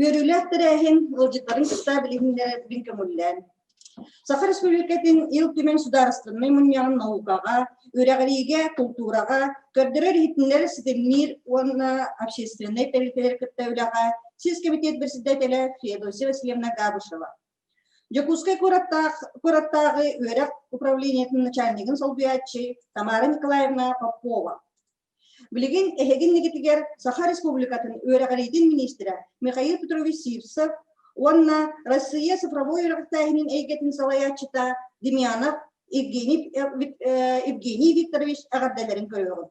Үөрүүлээх тэрээһин ыалдьыттарын кытта билиһиннэрэрбин көҥүллээн. Саха Республикатын Ил Түмэн судаарыстыбынай мунньаҕын наукаҕа, үрэҕириигэ, култуураҕа, көрдөрөр-иһитиннэрэр ситимниир уонна общественнай тэрилтэлэр кытта үлэҕэ сис кэмитиэт председателэ Феодосия Васильевна Габышева, Дьокуускай куораттаах, куораттааҕы үөрэх управлениетын начальнигын солбуйааччы Тамара Николаевна Попова. Билигин эһигин нигитигэр Саха Республикатын үөрэҕириитин министрэ Михаил Петрович Сивцев уонна Россия цифровой үөрэхтээһинин эйгэтин салайааччыта Демьянов Евгений, э, Евгений Викторович эҕэрдэлэрин көрөҕүт.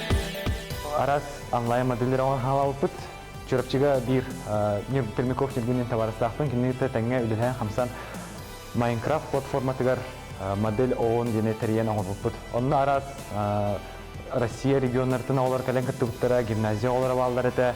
Араас онлайн модельлэри оҥорон хаалабыппыт. Чурапчыга биир Пермяков ньиргэнин табаарыстаахпын. Кинини кытта тэҥҥэ үлэлээн-хамсан Minecraft платформатыгар модель ООН диэни тэрийэн оҥорбуппут. Онно араас Россия регионнарытын оҕолор кэлэн кыттыбыттара, гимназия оҕолоро бааллар этэ.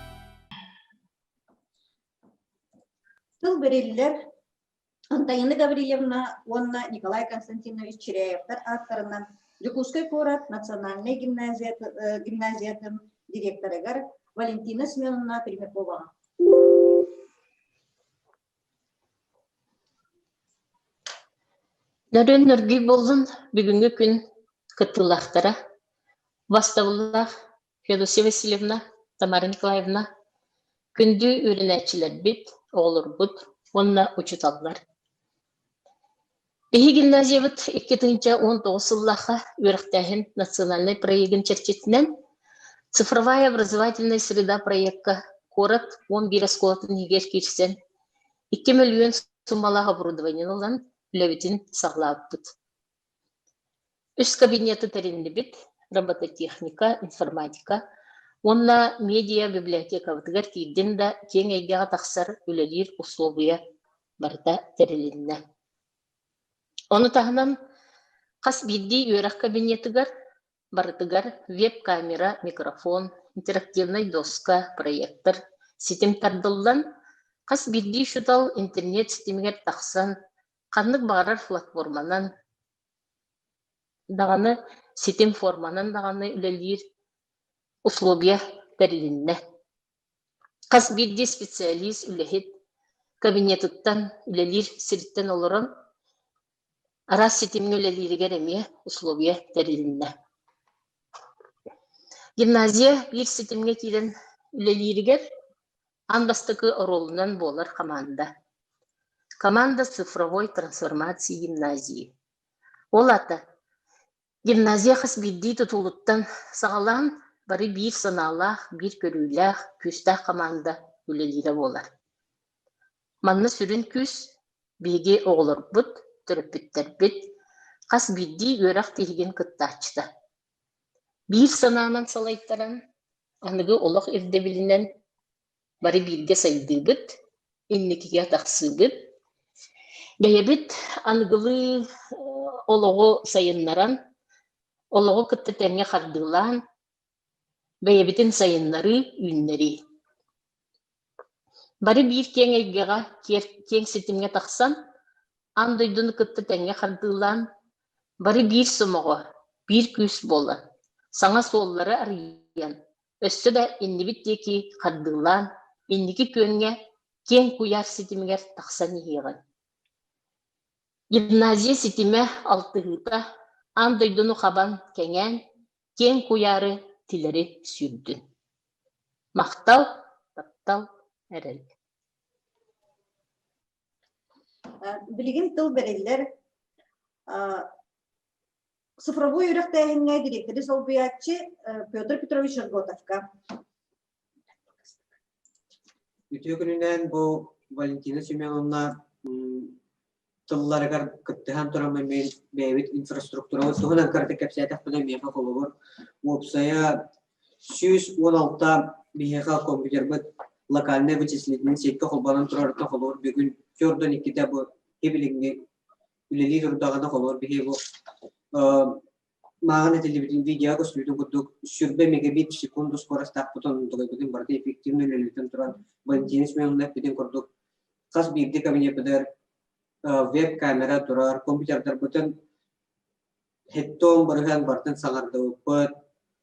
Тыл бэриллэр Антонина Гаврильевна уонна Николай Константинович Чиряевтар ааттарынан Дьокуускай куорат национальнай гимназия, гимназиятын директорыгар Валентина Семеновна Пермякова. Нөрүн нөргүй болдун бүгүҥҥү күн кыттыылаахтара бастабыллаах Федосия Васильевна, Тамара Николаевна, күндү үөрэнээччилэрбит, оҕолорбут уонна учууталлар. Биһи гимназиябыт икки тыһыынча уон тоҕус сыллаахха үөрэхтээһин национальнай проегын чэрчитинэн «Цифровая образовательная среда» проекка куорат уон биир оскуолатын иһигэр киирсэн икки мөлүйүөн суммалаах оборудованиены ылан үлэбитин саҕалаабыппыт. Үс кабинеты тэриннибит робототехника, информатика уонна медиа библиотекабытыгар киирдин да киэҥ эйгэҕэ тахсар үлэлиир усулуобуйа барыта тэрилиннэ. Ону таһынан хас биирдии үөрэх кабинетыгар барытыгар веб-камера, микрофон, интерактивнай доска, проектор, ситим тардыллан, хас биирдии учуутал интернет ситимигэр тахсан ханнык баҕарар платформанан даҕаны ситим форманан даҕаны үлэлиир условия тэрилиннэ. Хас биирдии специалист үлэһит кабинетыттан үлэлиир сириттэн олорон араас ситимҥэ үлэлииригэр эмиэ условия тэрилиннэ. Гимназия биир ситимҥэ киирэн үлэлииригэр аан бастакы оруолунан буолар хамаанда. Команда с цифровой трансформацией гимназии. Ол ата гимназия хас биирдии тутулуттан саҕалаан бары биир санаалаах, биир көрүүлээх, күүстээх хамаанда үлэлиирэ буолар. Манна сүрүн күүс биһиги оҕолорбут, төрөппүттэрбит хас биирдии үөрэх тиһигин кыттааччыта. Биир санаанан салайтаран, аныгы олох ирдэбилинэн бары бииргэ сайдыыбыт, инникигэ тахсыыбыт. Бэйэбит аныгылыы олоҕу сайыннаран, олоҕу кытта тэҥҥэ хардыылаан, бэйэбитин сайыннарыы, үүннэрии. Бары биир киэҥ эйгэҕэ, киэҥ ситимҥэ тахсан, аан дойдуну кытта тэҥҥэ хардыылаан, бары биир сомоҕо, биир күүс буолан, саҥа суоллары арыйан, өссө да иннибит диэки хардыылаан, инники күөҥҥэ киэҥ куйаар ситимигэр тахсан иһиэҕиҥ. Гимназия ситимэ алтыһыыта аан дойдуну хабан, кэҥээн, киэҥ куйаары тилэри сүүрдүн махтал таптал эрэл билигин тыл бэриллэр цифровой үрэхтээһиҥҥэ дириэктэри солбуйааччы Петр Петрович Арготовка Үтүө күнүнэн бу Валентина Семеновна тылларыгар кыттыһан туран бэйэбит инфраструктураҕыт туһунан кыратык кэпсээтэхпинэ миэхэ холобур уопсайа сүүс уон алта биһиэхэ компьютербыт локальнай вычислительнай сиэккэ холбонон турарыттан холобур бүгүн төрт уон иккитэ бу билиҥҥи үлэлии турдаҕына холобур биһиги бу Мааҕын этиллибитин видео көстүүтүн курдук, сүрбэ мегабит секунду скоростаахпытын онтугайбытын барыта эффективно үлэлиитин туран, бандинец мөҥүннэ эппитин курдук, хас биирдии кабинетыгар веб-камера турар, компьютердарбытын хеттон барыһан бартын саҥардыбыппыт,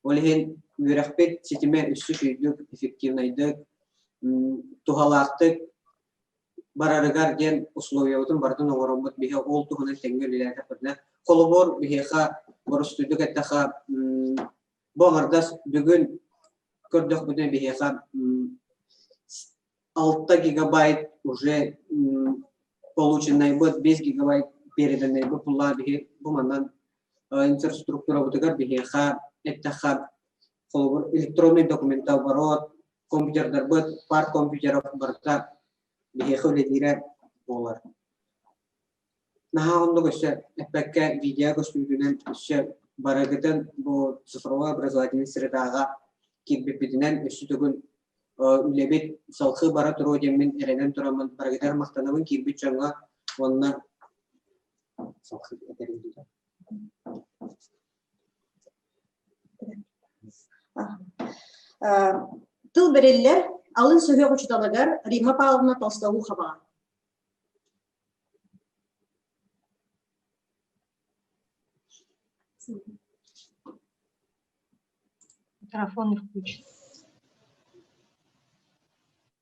ол иһин үөрэхпит ситимэ үсүс үрдүк, эффективнайдык, туһалаахтык барарыгар диэн условиябытын барытын оҥороммут биһи ол туһунан тэҥҥэ үлэлээтэхпитинэ холобур биһиэхэ борустуйдук эттэхэ бу аҥардас бүгүн көрдөхпүтүнэ биһиэхэ алта гигабайт уже полученный быт бес гигабайт переданный бу пулла биһи бу манан инфраструктурабытыгар биһиэхэ эттэхэ холобур электронный документ оборот компьютердарбыт, пар компьютеров барыта биһиэхэ үлэлиирэ буолар. Наһаа оннук өссө эппэккэ видео көстүүтүнэн өссө барыгытын бу цифровой образовательный средаҕа кирбиппитинэн өссө төгүл үлэбит салхыы бара туруо диэммин эрэнэн тураммын барыгытар махтанабын киирбит дьоҥҥо уонна салхыы этэрин Тыл бэриллэр алын сүһүөх учууталыгар Римма Павловна Толстоухова. Микрофон не включен.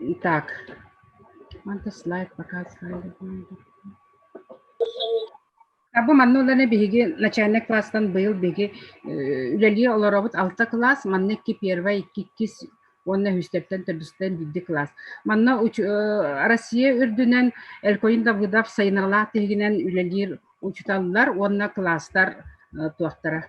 Итак, манта слайд показывали буолду. Абу манна улана биһиги начальник класстан быйыл биһиги э, үлэлии олоробут алта кылаас, манна икки первый, икки иккис уонна үһүстэртэн төрдүстэн биирди кылаас. Манна э, Россия үрдүнэн Элькойин Давыдов сайыныралаах тиһигинэн үлэлиир учуталлар уонна кылаастар э, туохтара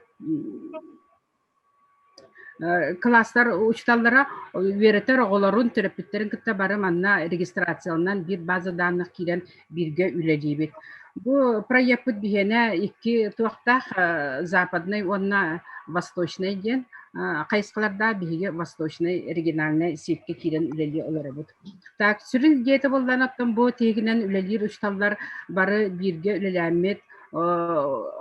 кылаастар учууталлара үөрэтэр оҕолорун төрөппүттэрин кытта бары манна регистрацияланан биир база данных киирэн бииргэ үлэлиибит бу проекпыт биһиэнэ икки туохтаах западный уонна восточный диэн хайысхалардаах биһиги восточнай региональнай сиэккэ киирэн үлэлии олоробут Так, сүрүн диэтэ буоллар оттон бу тиһигинэн үлэлиир учууталлар бары бииргэ үлэлээммит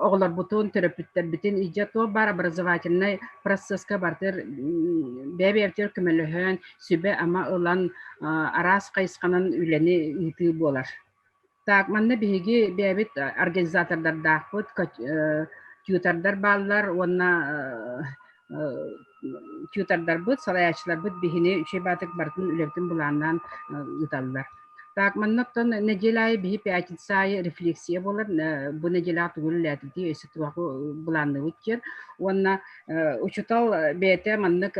оҕолорбутун, төрөппүттэрбитин иджа туох баар образовательнай процесска бартыр бэйэ-бэйэбитигэр көмөлөһөн, сүбэ-ама ылан араас хайысханан үлэни ыытыы буолар. Так, манна биһиги бэйэбит организатордардаахпыт, тьютордар бааллар уонна тьютордарбыт, салайааччыларбыт биһини үчүгэй баатык барытын үлэбитин былааннаан ыыталлар. Так, манна оттон нэдиэлэ аайы биһи пятница аайы рефлексия буолар. Бу нэдиэлэҕэ тугу үлэлээтитии өссө туоху былаанныыбыт диэн уонна учутал бэйэтэ маннык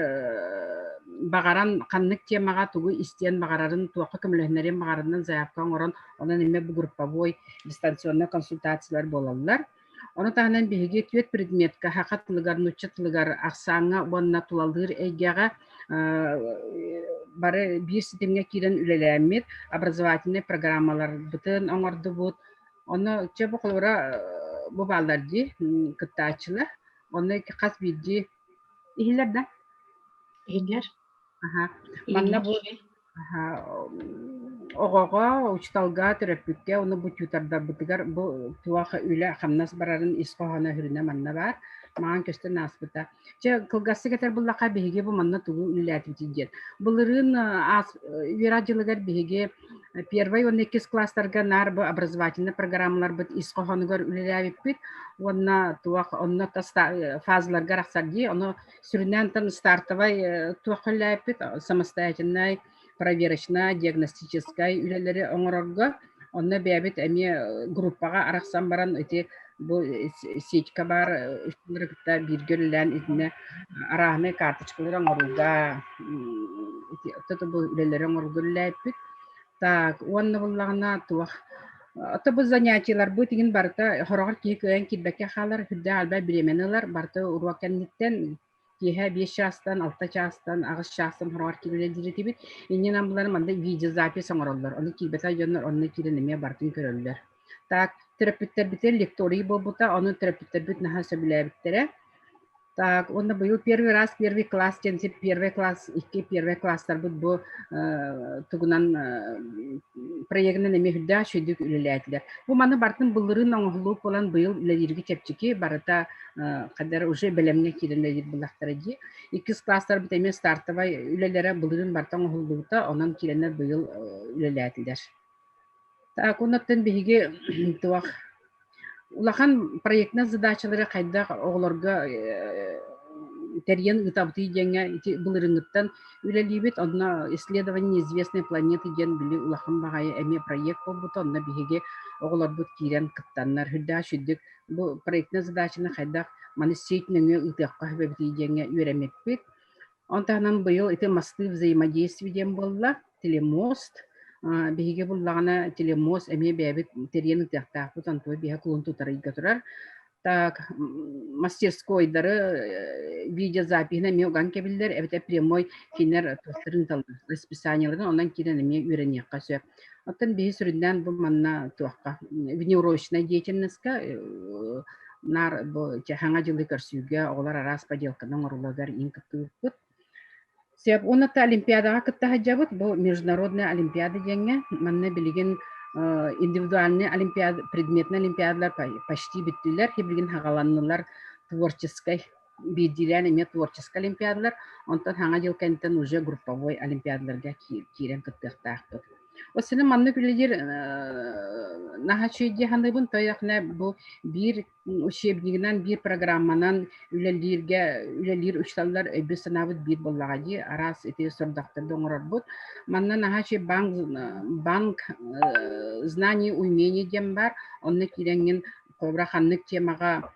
баҕаран ханнык тиэмэҕэ тугу истиэн баҕарарын туохха көмөлөһүнэрин баҕарынан заявка оҥорон онон эмиэ бу групповой дистанционнай консультациялар буолаллар ону таһынан биһиги түөрт предметка саха тылыгар нуучча тылыгар ахсааҥҥа уонна тулалыыр эйгэҕэ бары биир ситимҥэ киирэн үлэлээммит образовательнай программаларбытын оҥордубут ону чэ бу холобура бу бааллар дии кыттааччылар Онно хас биирдии иһиллэр да? Иһиллэр. Аха. Манна бу аха оҕоҕо, учууталга, төрөппүккэ оны бутьуутардарбытыгар бу туох үлэ хамнас барарын ис хоһооно үрүнэ манна баар маҥан көстөн ааспыта. Чэ кылгасты кетер буллаха биһиги бу манна тугу үлэлээтибит диэн. Былырын аас Вера дьылыгар биһиги Первай уонна иккис класстарга наар бу образовательнай программаларбыт ис хоһоонугар үлэлээбиппит уонна туох онно фазаларга арахсар дии ону сүрүннээн тан стартовай туох үлэлээппит самостоятельнай проверочнай диагностическай үлэлэри оҥорорго онно бэйэбит эмиэ группаҕа арахсан баран ити Бу сетька баар устулары кытта бииргэ үлэлээн итиннэ арааһынай карточкалары оҥорууга ото бу үлэлэри оҥорууга үлэлээппит. Так, уонна буллаҕына туох ото бу занятиеларбыт игин барыта хороҕор киһи кыайан киирбэккэ хаалар үрдэ албай бириэмэни ылар барыта уруок кэнниттэн киэһэ биэс чаастан алта чаастан аҕыс чаастан хороҕор киирэлэр этибит инньэ намылары манна видеозапись оҥороллор ону киирбэтэ дьоннор онно киирэн эмиэ барытын көрөллөр так төрөппүттэрбитэ лекторий буолбута ону төрөппүттэрбит наһаа сөбүлээбиттэрэ так уонна быйыл первый раз первый класс диэн син первый класс икки первый класстарбыт бу тугунан проегынан эмиэ үрдээх үчүгэйдик үлэлээтилэр бу маны бартын былырыын оҥоһуллубут буолан быйыл үлэлииргэ чэпчэки барыта кадр уже бэлэмҥэ киирэн да булахтара дии иккис класстарбыт эмиэ стартовай үлэлэрэ былырын барта оҥоһуллубута онон киирэннэр быйыл үлэлээтилэр так оннуттан биһиги туох улахан проектнай задачалары хайдах оҕолорго тэрийэн ыытабытый диэҥҥэ ити былырыҥҥыттан үлэлиибит онно исследование известной планеты диэн били улахан баҕайы эмиэ проект буолбута онно биһиги оҕолорбут киирэн кыттаннар үрдээх бу проектнай задачаны хайдах маны сеть нөҥүө ыытыахха эбэбитий диэҥҥэ үөрэммиппит. Он таһынан быйыл ити мастыы взаимодействие диэн буолла. Телемост, биһиги буллаҕына телемост эмиэ бэйэбит тириэн ытыахтаахпыт, антуой биһэ клон тутар ыйга турар. Так, мастерскойдары видеозапиһын эмиэ уган кэбиллэр, эбэтэр прямой кинилэр тустарын талар расписаниеларын онон киирэн эмиэ үөрэниэххэ сөп. Оттон биһи сүрүннээн бу манна туохха внеурочнай деятельноска наар бу Хаҥа дьылы көрсүүгэ оҕолор араас поделканы оҥоруларыгар иҥ кыттыыппыт. Сөп уонна Олимпиадаҕа кытта сылдьабыт. Бу международная олимпиада диэҥҥэ. Манна билигин индивидуальный олимпиада предметный олимпиадалар почти бүттүлэр, билигин хагаланнылар творческай биирдиилээн эмиэ творческай олимпиадалар, онтон Саҥа дьыл кэнниттэн уже групповой олимпиадаларга киирэн кыттыахтаахпыт. Осыны маннык үлэлиир наһачыйдия ханыбын тойахне бу биир учебнигынан биир программанан үлэлииргэ үлэлиир учталлар өйбү санаабыт биир боллаға ди араас ити сордактарды оңорорбут манна наһачы банк банк знаний умений диэн бар онны кииреңин кобра ханнык темаға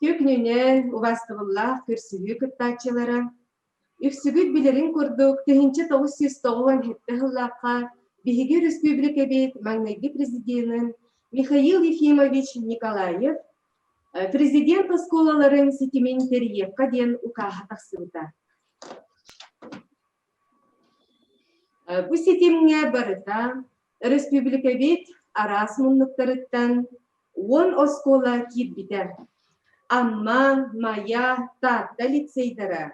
Түк нүнэл, убастыбыллаах көрсүһүү кыттааччылара үксүгүт билэрин курдук, тыһыынча тоҕус сүүс тоҕуон сэттэ сыллаахха биһиги өрөспүүбүлүкэбит маҥнайгы президенин Михаил Ефимович Николаев президент оскуолаларын ситимин тэрийиэххэ диэн укааһа тахсыбыта. Бу ситимҥэ барыта өрөспүүбүлүкэбит араас муннуктарыттан уон оскуола киирбитэ. Амма, Майа, Таатта лицейдара,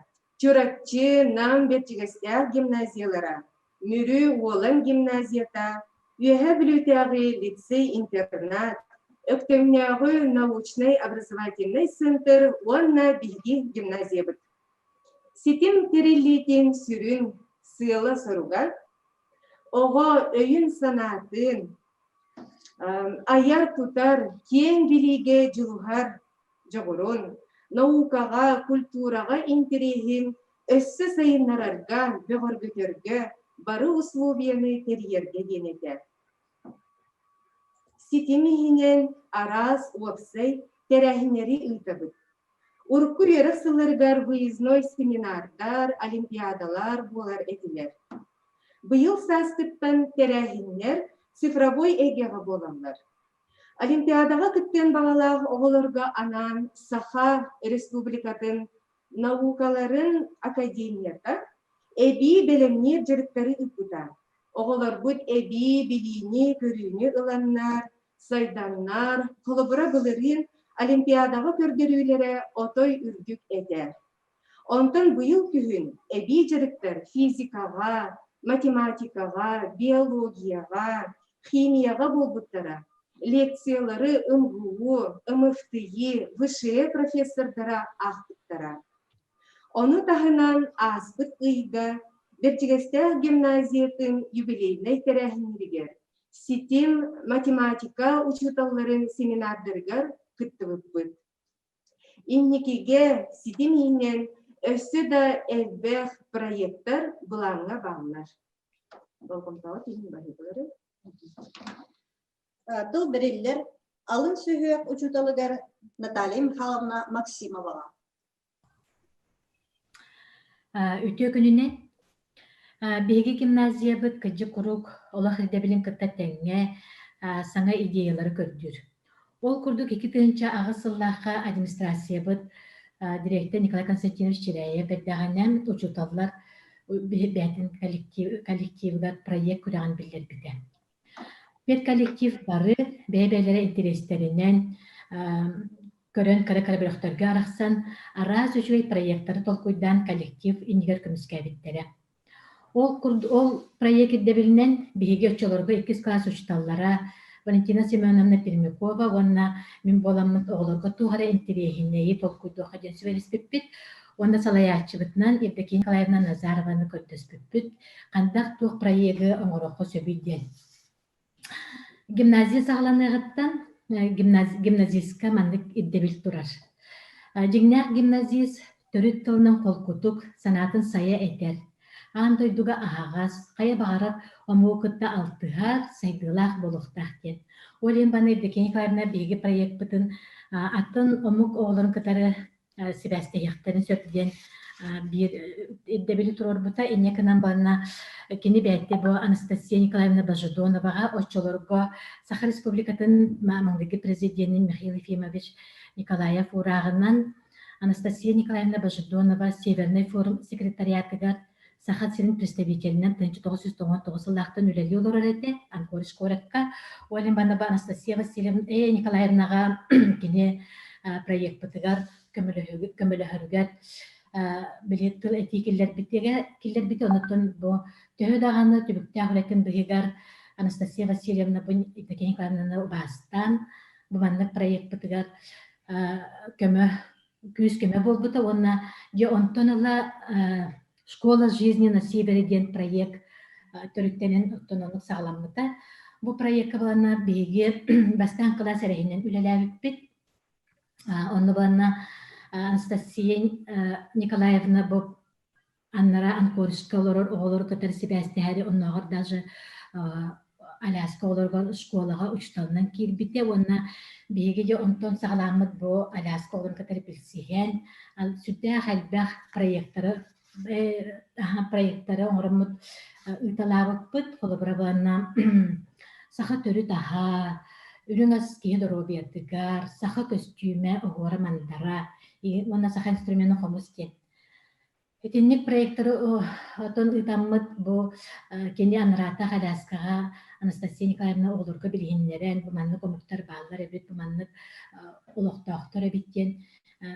Чурапчы, Нам Бэрдьигэстээх гимназиялара, Мүрү Уолан гимназията, Үөһээ Бүлүүтээҕи лицей-интернат, Өктөмнөөҕү научнай-образовательнай центр уонна биһиги гимназиябыт Ситим тэриллиитин сүрүн сыала-соруга оҕо өйүн-санаатын айар-тутар, киэҥ билиигэ дьулуһар дьоҕурун, наукаҕа, культураҕа интэриэһин өссө сайыннарарга, бөҕөргөтөргө бары усулуобуйаны тэрийэргэ диэн этэ. Ситим иһинэн араас уопсай тэрээһиннэри ыытабыт. Урукку үөрэх сылларыгар выездной семинардар, олимпиадалар буолар этилэр. Быйыл саастыктан тэрээһиннэр цифровой эйгэҕэ буолаллар. Олимпиадаҕа кыттыан баҕалаах оҕолорго анаан Саха Республикатын наукаларын академията эбии бэлэмниир дьарыктары ыыппыта. Оҕолорбут эбии билиини-көрүүнү ыланнар, сайданнар, холобура былырыын Олимпиадаҕа көрдөрүүлэрэ отой үрдүк этэ. Онтон быйыл күһүн эбии дьарыктар физикаҕа, математикаҕа, биологияҕа, химияҕа буолбуттара, лекциялары МГУ, МФТИ, ВШЭ профессордара аахпыттара. Ону таһынан ааспыт ыйга Бэрдьигэстээх гимназиятын юбилейнай тэрээһиннэригэр, ситим математика учууталларын семинардарыгар кыттыбыппыт. Инникигэ ситим иһинэн өссө да элбэх проектар былааҥҥа бааллар. Болҕомтоҕо түһүн баһыылары. Тыл бэриллэр алын сүһүөх учууталыгар Наталья Михайловна Максимоваҕа. Үтүө күнүнэн. Биһиги гимназиябыт кырдьык куруук олох ирдэбилин кытта тэҥҥэ саҥа идеялары көрдүүр. Ол курдук икки тыһыынча аҕыс сыллаахха администрациябыт дириэктэр Николай Константинович Чиряев эрдэҕинэн учууталлар бэйэтин коллективыгар проект күрэҕин биллэрбитэ. Педколлектив бары бэйэ-бэйэлэрэ интэриэстэринэн көрөн кыра кыра бөлөхтөргө арахсан араас үчүгэй проектары толкуйдаан коллектив иннигэр көмүскээбиттэрэ. Ол курдук ол проект ирдэбилинэн биһиги оччолорго иккис кылаас учууталлара Валентина Семеновна Пермякова уонна мин буоламмыт оҕолорго туох эрэ интэриэһинэйи толкуйдуохха диэн сүбэлэспиппит. Уонна салайааччыбытынан Евдокия Николаевна Назарованы көрдөспүппүт, хантах туох проегы оҥоруохха сөбүй диэн. Гимназия саҕаланыаҕыттан гимназистка маннык ирдэбил турар. Дьиҥнээх гимназист төрүт тылынан холкутук, санаатын сайа этэр, аан дойдуга аһаҕас, хайа баҕарар омугу кытта алтыһар, сайдыылаах буолуохтаах диэн. Ол иһин баны Евдокия Николаевна биһиги проекпытын атын омук оҕолорун кытары сибээстэһиэхтэрин сөп диэн биир ирдэбили туруорбута инньэ гынан барна кини бэйэтэ бу Анастасия Николаевна Божедонова оччолорго Саха Республикатын Мамлыги президенин Михаил Ефимович Николаев урааҕынан Анастасия Николаевна Божедонова Северный форум секретариатыгар Саха сирин представителинэн тыһыынча тоҕус жүз тоҕус тоҕус сыллаахтан үлэлии олорор этэ Анкорич куоракка Олиманова Анастасия Васильевна э, Николаевнаҕа кини проекпытыгар көмөлөһөрүгэр били тыл этии киллэрбитигэ киллэрбити оннуттан бу төһө даҕаны түбүктээх үлэтин быһыгар Анастасия Васильевна бу Евдокия Николаевнаны убаастаан бу маннык проекпытыгар көмө күүскэмэ буолбута уонна дьэ онтон ыла школа жизни на севере диэн проект төрүттэнэн оттон оннук саҕаламмыта бу проекка быланна биһиги бастаан кылаас эрэһинэн үлэлээбиппит онно быланна анастасия николаевна боб Аннара анкоришка олорор оҕолору кытары сибээстэһэри оннооҕор даже Аляска олорор школаҕа учууталынан киирбитэ уонна биһиги дьэ онтон саҕаламмыт бу Аляска олорон кытары билсиһэн сүрдээх элбэх проектары проектары оҥороммут ыыталаабыппыт холобура буолана саха төрүт аһа үрүҥ ас киһи доруобуйатыгар саха көстүүмэ оһуора мандара уонна саха инструмена хомус диэн Итинник проекторы отон ыытаммыт бу кини анараатах Аляскаҕа Анастасия Николаевна оҕолорго билиһиннэрэн, бу маннык омуктар бааллар эбит, бу маннык олохтоохтор эбит диэн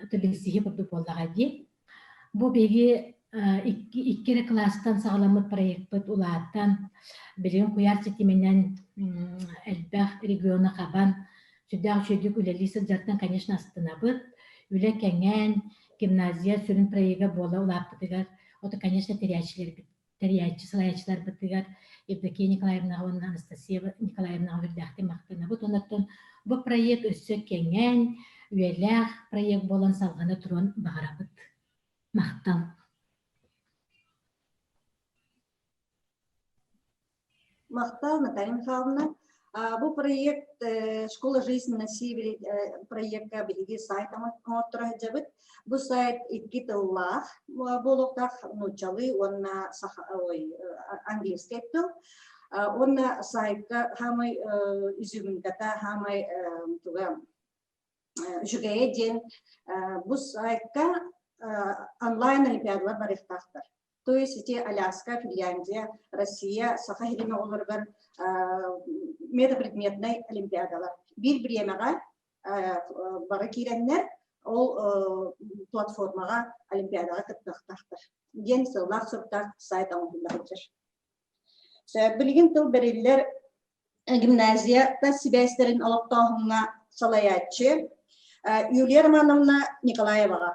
ыты билсиһии курдук буоллаҕа дии. Бу биһиги икки, икки эрэ класстан саҕаламмыт проекпыт улаатан, билигин куйаар ситиминэн элбэх региону хабан, сүрдээх үчүгэйдик үлэлии сылдьартан, конечно, астынабыт, үлэ кэҥээн, гимназия сүрүн проега буола улааппытыгар, ото, конечно, тэрийээччилэрбит, тэрийээччи, салайааччыларбытыгар Евдокия Николаевнаҕа уонна Анастасия Николаевнаҕа үрдээхтик махтанабыт. Онон бу проект өссө кэҥээн, үйэлээх проект буолан салҕана туруон баҕарабыт. Махтал. Махтал, Наталья Михайловна. Бу проект «Школа жизни на севере» проекка биһиги сайт оҥорторо сылдьабыт. Бу сайт икки тыллаах буолуохтаах нууччалыы уонна саха, ой, английский тыл. Уонна сайтка хаамай үзүгүнгата хаамай туга үчүгэйэ диэн бу сайтка онлайн олимпиадалар барыахтаахтар. То есть эти Аляска, Финляндия, Россия, Саха иһин оҕолоругар метапредметнай олимпиадалар. Bir biryemega бары киирэннэр, ол платформаға олимпиадаға кыттахтахтар диэн сыллаах суруктаах сайт оҥоһуллар Билигин тыл бериллер гимназията сибээстэрин олохтооһуҥҥа салайааччы Юлия Романовна Николаеваға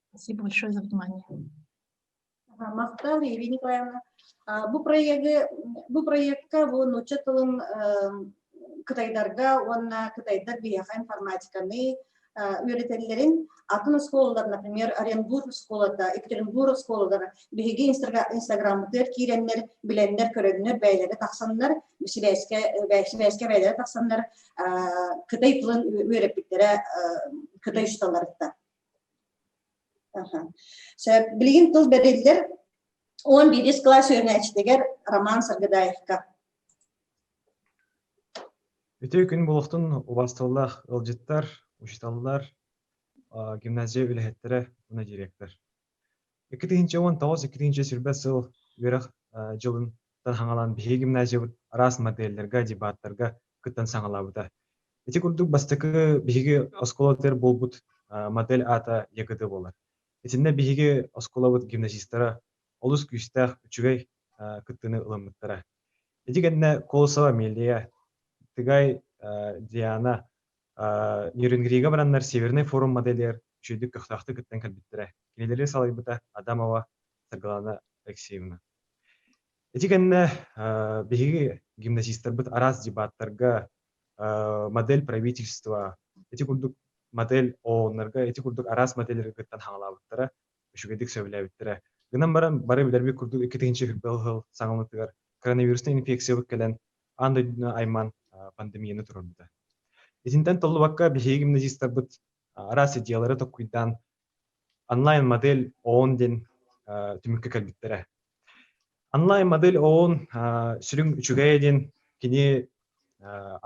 Спасибо большое за внимание. Мақтан Ирина Николаевна, бу проекты бу проектка бу нуучча тылын кытайдарга уонна кытайдар биһиэхэ информатиканы үөрэтэллэрин атын оскуолалар, например, Оренбург оскуолата, Екатеринбург оскуолалара биһиги инстаграммытыгар киирэннэр, билэннэр, көрөннөр бэйэлэрэ тахсаннар, сибээскэ бэйэлэрэ тахсаннар Кытай тылын үөрэппиттэрэ Кытай усталарыттан. Билигин тыл бэриллэр он бирис класс үөрэнээччитигэр Роман Саргыдаевка. Үтүө күн булуохтун убастыллах ылдьыттар, учиталлар, гимназия үлэһиттэрэ уна директор. Екі тыһынча он тоғыз екі тыһынча сүрбэ сыл үөрэх жылын таһаҥалан биһиги гимназиябыт араас модельлерге, дебаттарга кыттан саҕалаабыта. Ити курдук бастакы биһиги оскуолатыгар буолбут модель аата ЯКД буолар. Итиннэ биһиги оскуолабыт гимназистара олус күүстээх, үчүгэй кыттыыны ылыммыттара. Ити кэннэ Колосова Амелия, Тыгай Диана, Нерюнгрига бараннар Северный форум моделигэр үчүгэйдик көхтөөхтүк кыттан кэлбиттэрэ. Кинилэри салайбыта Адамова Саргылана Алексеевна. Ити кэннэ биһиги гимназистарбыт араас дебаттарга модель правительства ити курдук модель ООНнарга ити курдук араас модельлэри кыттан хаҥалаабыттара, үчүгэйдик сөбүлээбиттэрэ. Гынан баран бары билэрбит курдук икки тыһыынча сүүрбэ сыл саҥалытыгар коронавирусная инфекциябыт кэлэн аан дойдуну айман пандемияны турарбыта. Итинтэн толлубакка биһиги гимназистарбыт араас идеялары толкуйдаан Онлайн-модель ООН диэн түмүккэ кэлбиттэрэ. Онлайн-модель ООН сүрүн үчүгэйэ диэн кини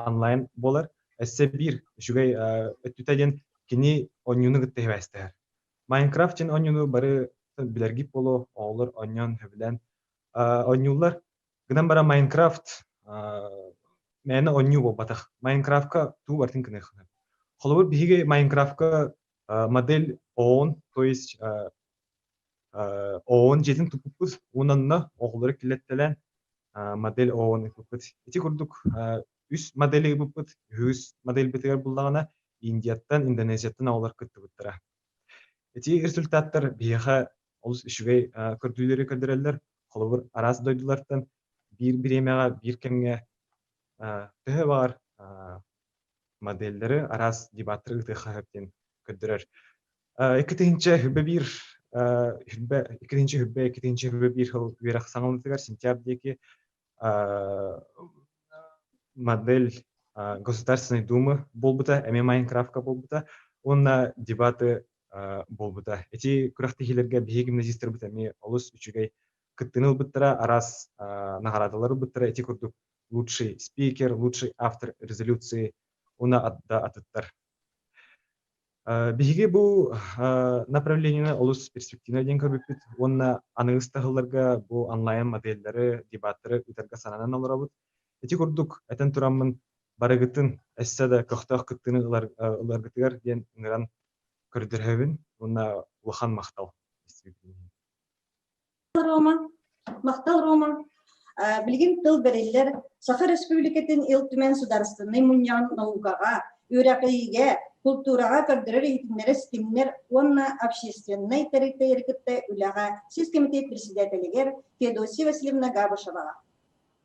онлайн буолар, өссө биир үчүгэй өттүтэ диэн кини онньууну кытта сибээстэһэр. Майнкрафт диэн онньууну бары билэргит буолуо, оҕолор онньоон сөбүлээн онньууллар. Гынан баран Майнкрафт мээнэ онньуу буолбатах. Майнкрафтка тугу бартын гыныаххын. Холобур, биһиги Майнкрафтка модель ООН, то есть ООН дьиэтин туппуппут уонна оҕолору килэттэлэн модель ООН ыппыппыт. Ити курдук үс модели ыппыппыт. Үһүс модельбитигэр буллаҕына Индияттан, Индонезияттан оҕолор кыттыбыттара. Эти результаттар биһиэхэ олус үчүгэй көрдүүлэри көрдөрөллөр. Холобур, араас дойдулартан биир бириэмэҕэ, биир кэмҥэ төһө баҕар модельлэри араас дебаттары ытыахха сөп диэн көрдөрөр. Иккитинчэ хүрбэ биир хүрбэ иккитинчи хүрбэ иккитинчи хүрбэ биир сыл үөрэх саҥалытыгар сентябрь диэки модель Государственной Думы буолбута, эмиэ Майнкрафка буолбута уонна дебаты буолбута. Эти күрэхтэһиилэргэ биһиги гимназистырбыт эмиэ олус үчүгэй кыттыыны ылбыттара, араас наҕараадалары ылбыттара эти курдук лучший спикер, лучший автор резолюции уна да атыттар. Биһиги бу направлениены олус перспективнай диэн көрбүппүт уонна аны ыстаһылларга бу онлайн модельлэри, дебаттары ыытарга сананан олоробут. Ити курдук этэн тураммын барыгытын эссе да көхтөөх кыттыыны ыларгытыгар диэн ыҥыран көрдөрөбүн уонна улахан махтал. Рома, Махтал Рома, билигин тыл бериллер Саха Республикатын Ил Түмэн судаарыстыннай мунньаҕын наукаҕа, үөрэҕиигэ, култуураҕа көрдөрөр иһитиннэрэ ситимнэр уонна общественнай тэрилтэлэри кытта үлэҕэ сис кэмитиэт председателигэр Феодосия Васильевна Габышеваҕа.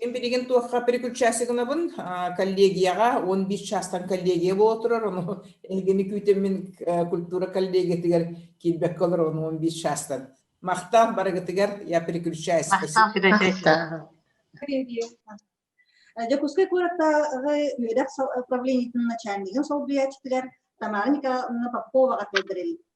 Мин билигин туохха переключайся гынабын коллегияҕа он бис чаастан коллегия буола турар ону эһигини күүтэммин культура коллегиятыгар киирбэккэ олор ону он бис чаастан махтаах барыгытыгар я переключаюсь Дьокуускай куораттааҕы үөдэх управлениетын начальнигын солбуйааччытыгар Тамара Николаевна Поповаҕа тылдырил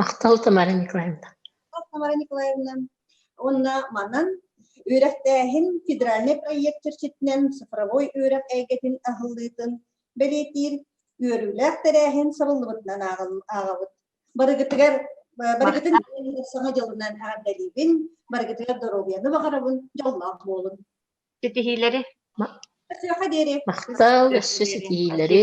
Махтал Тамара Николаевна. Тамара Николаевна уонна манан үөрэхтээһин федеральнай проект чэрчитинэн цифровой үөрэх эйгэтин аһыллыытын бэлиэтиир үөрүүлээх тэрээһин сабыллыбытынан ааҕабыт. Барыгытыгар барыгытын саҥа дьылынан эҕэрдэлиибин, барыгытыгар доруобуйаны баҕарабын, дьоллоох буолун. Ситиһиилэри. Махтал, өссө ситиһиилэри.